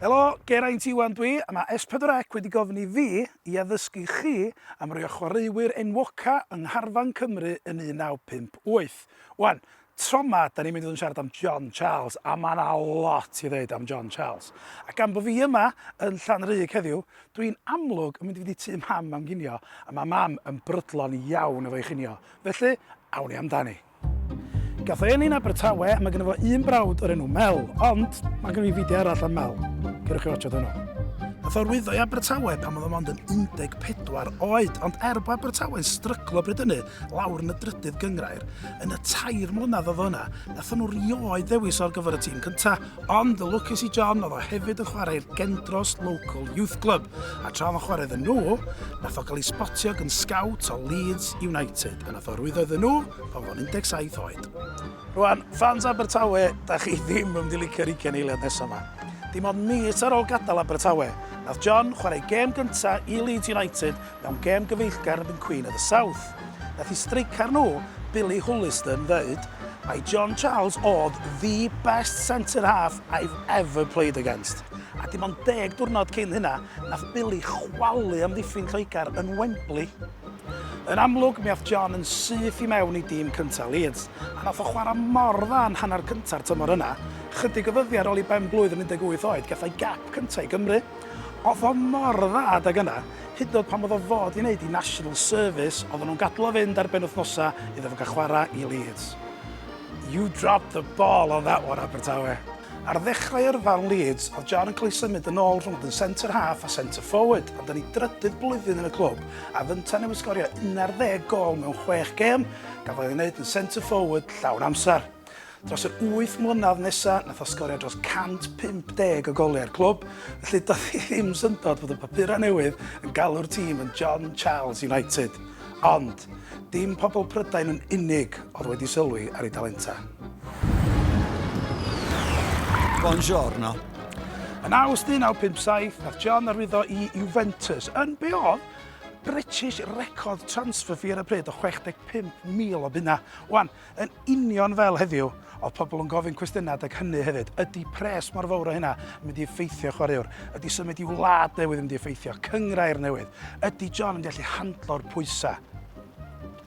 Helo, Geraint Iwan dwi, a mae S4C wedi gofyn i fi i addysgu chi am rai o chwaraewyr enwoca yng ngharfan Cymru yn 1958. Wan, Tro 'ma, 'dan ni'n mynd i fod yn siarad am John Charles, a ma' 'na lot i ddeud am John Charles. A gan bo' fi yma yn Llanrug heddiw, dw i'n amlwg yn mynd i fynd i tŷ Mam am ginio, a ma' Mam yn brydlon iawn efo'i chinio. Felly, awn ni amdani. Gath ei eni'n Abertawe, a ma' gynno fo un brawd o'r enw Mel, ond ma' gynno fi fideo arall am Mel. Ceirwch chi watsiad hwnnw. Nath o lwyddo i Abertawe pan o'dd o mond yn 14 oed, ond er bo' Abertawe'n stryglo bryd hynny, lawr yn y drydydd gyngrair. Yn y tair mlynedd oedd yna, nathon nhw rioed ddewis o'r gyfer y tîm cynta, ond y lwcus i John oedd o hefyd yn chwarae'r Gendros Local Youth Club, a tra oedd yn chwarae iddyn nhw, nath o gael ei sbotio gan scout o Leeds United, a nath o rwyddo iddyn nhw pan fo'n 17 oed. Rwan, fans Abertawe, da chi ddim yn mynd i licio'r ugen eiliad nesaf yma. Dim ond mis ar ôl gadael Abertawe, nath John chwarae gêm gynta i Leeds United Mewn gêm gyfeillgar erbyn Queen of the South, nath i streicar nhw, Billy Huliston, ddeud mai John Charles o'dd the best centre half I've ever played against. A dim ond deg diwrnod cyn hynna, nath Billy chwalu amddiffyn Lloegr yn Wembley. Yn amlwg, mi ath John yn syth i mewn i dîm cynta' Leeds, a nath o chwara' mor dda yn hanner cynta'r tymor yna, chydig o ddyddia' ar ol i ben-blwydd yn 18 oed, gath o'i gap cynta' i Gymru. O'th o mor dda adag yna, Hyd yn oed pan oedd o'n fod i wneud i National Service, oedden nhw'n gadl o fynd ar benwythnosau iddo fo gael chwarae i Leeds. You dropped the ball on that one, Abertawe. Ar ddechrau yrfa yn Leeds, oedd John yn cael ei symud yn ôl rhwng fod yn centre half a centre forward, ond yn ei drydydd blwyddyn yn y clwb, a fynta newydd sgorio 11 gôl mewn chwech gêm, gafodd ei wneud yn centre forward llawn amser. Dros yr wyth mlynedd nesa, nath o sgorio dros 150 o goliau i'r clwb, felly doedd hi ddim syndod fod y papurau newydd yn galw'r tîm yn John Charles United. Ond, dim pobl Prydain yn unig oedd wedi sylwi ar ei dalenta. Buongiorno. Yn awst 1957, nath John arwyddo i Juventus yn be oedd British record transfer fee ar y pryd o 65,000 o bunna. Wan, Yn union fel heddiw, oedd pobl yn gofyn cwestiynau adeg hynny hefyd. Ydy pres mor fawr o hynna yn mynd i effeithio chwaraewr? Ydy symud i wlad newydd yn mynd i effeithio? Cynghrair newydd? Ydy John yn mynd i allu handlo'r pwysau?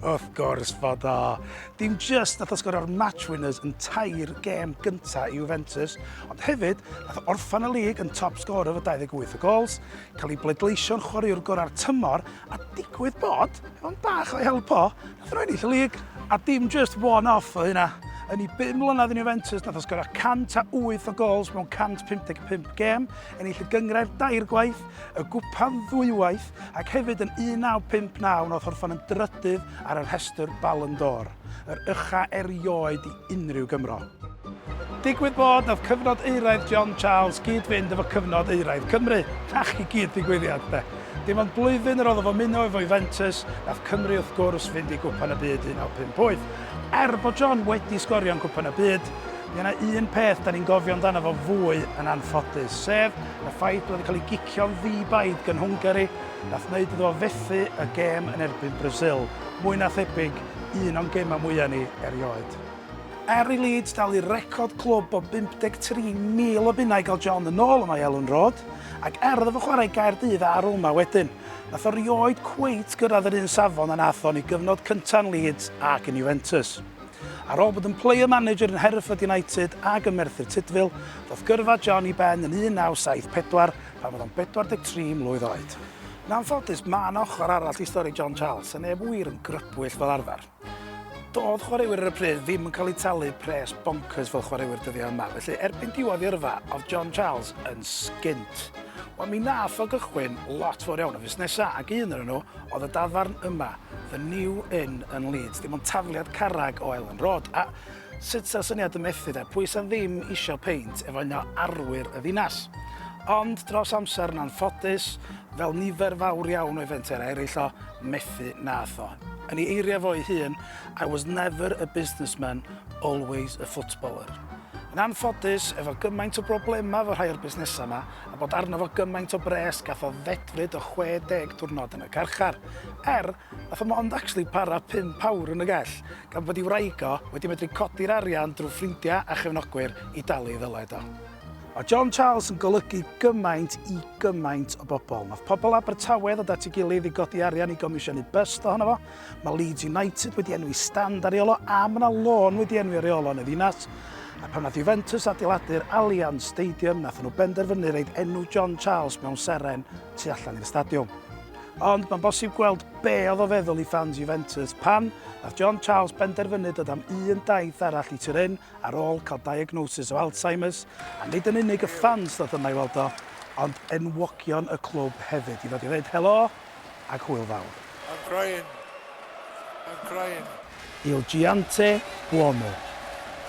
Wrth gwrs fod o. Dim just nath o sgorio'r match winners yn tair gêm gynta i Juventus, ond hefyd nath o orffan y lig yn top sgorer efo 28 o gols, cael ei bleidleisio'n chwaraewr gorau'r tymor A digwydd bod, mewn bach o'i help o, nath o ennill y lig, a dim just one off oedd hynna. Yn ei bum mlynedd yn Juventus, nath o sgorio 108 o gols mewn 155 gêm, ennill y gyngrair dair gwaith, y gwpan ddwywaith, ac hefyd yn 1959 nath orffen yn drydydd ar y rhestr Ballon d'Or, yr ucha erioed i unrhyw Gymro. Digwydd bod, nath cyfnod euraidd John Charles gyd-fynd efo cyfnod euraidd Cymru. Nac i gyd digwyddiad, 'de. Dim ond blwyddyn yr oedd o fo muno efo Juventus, nath Cymru wrth gwrs fynd i Gwpan y Byd 1958. Er bod John wedi sgorio yn Cwpan y Byd, mi o'na un peth 'dan ni'n gofio amdano fo fwy yn anffodus, sef y ffaith bod o 'di cael ei gicio'n ddi-baid gyn Hwngari, nath neud iddo fo fethu y gêm yn erbyn Brasil, mwy na thebyg un o'n gemau mwya ni erioed. Er i Leeds dalu record clwb o 53,000 o bunnau i gael John yn ôl yma i Elland Road, ac er iddo fo chwarae i Gaerdydd a Roma wedyn, nath o rioed cweit gyrraedd yr un safon a nath o yn ei gyfnod cynta yn Leeds ac yn Juventus. Ar ôl bod yn player manager yn Hereford United ag yn Merthyr Tudful, ddoth gyrfa John i ben yn 1974 pan oedd o'n 43 mlwydd oed. Yn anffodus, ma' 'na ochr arall i stori John Charles, a neb wir yn grybwyll fel arfer. Doedd chwaraewyr ar y pryd ddim yn cael eu talu pres boncyrs fel chwaraewyr dyddiau yma, felly erbyn diwedd ei yrfa oedd John Charles yn sgint. Wel, mi nath o gychwyn lot fawr iawn o fusnesau ac un o'r nhw oedd y dafarn yma, The New Inn yn Leeds, dim ond tafliad carreg o Elland Road, a sut sa'r syniad yn methu de, pwy sa ddim isio peint efo un o arwyr y ddinas? Ond dros amser yn anffodus, fel nifer fawr iawn o'i fenter eraill o, methu nath o. Yn ei eiriau fo ei hun, I was never a businessman, always a footballer. Yn anffodus, efo gymaint o broblemau efo rhai o'r busnesau yma, a bod arno fo gymaint o bres, gath o ddedfryd o 60 diwrnod yn y carchar. Er, nath o mond actually para pump awr yn y gell, gan bod ei wraig o wedi medru codi'r arian drwy ffrindiau a chefnogwyr i dalu ei ddyled o. Mae John Charles yn golygu gymaint i gymaint o bobl. Nath pobl Abertawe ddod at ei gilydd i godi arian i gomisiynu byst ohono fo. Mae Leeds United wedi enwi stand ar Iolo a mae yna lôn wedi enwi ar Iolo yn y ddinas. A pan nath Juventus adeiladu'r Allianz Stadium, nath nhw benderfynu reid enw John Charles mewn seren tu allan i'r stadiwm. Ond mae'n bosib gweld be oedd o feddwl i fans Juventus pan nath John Charles benderfynu dod am un daith arall i Turin Ar ôl cael diagnosis o Alzheimer's, a nid yn unig y ffans ddoth yma i weld o, ond enwogion y clwb hefyd, i ddod i ddeud helo ac hwyl fawr. I'm crying. I'm crying. Il Giante Buono,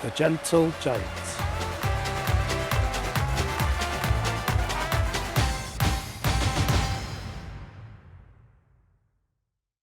The Gentle Giant.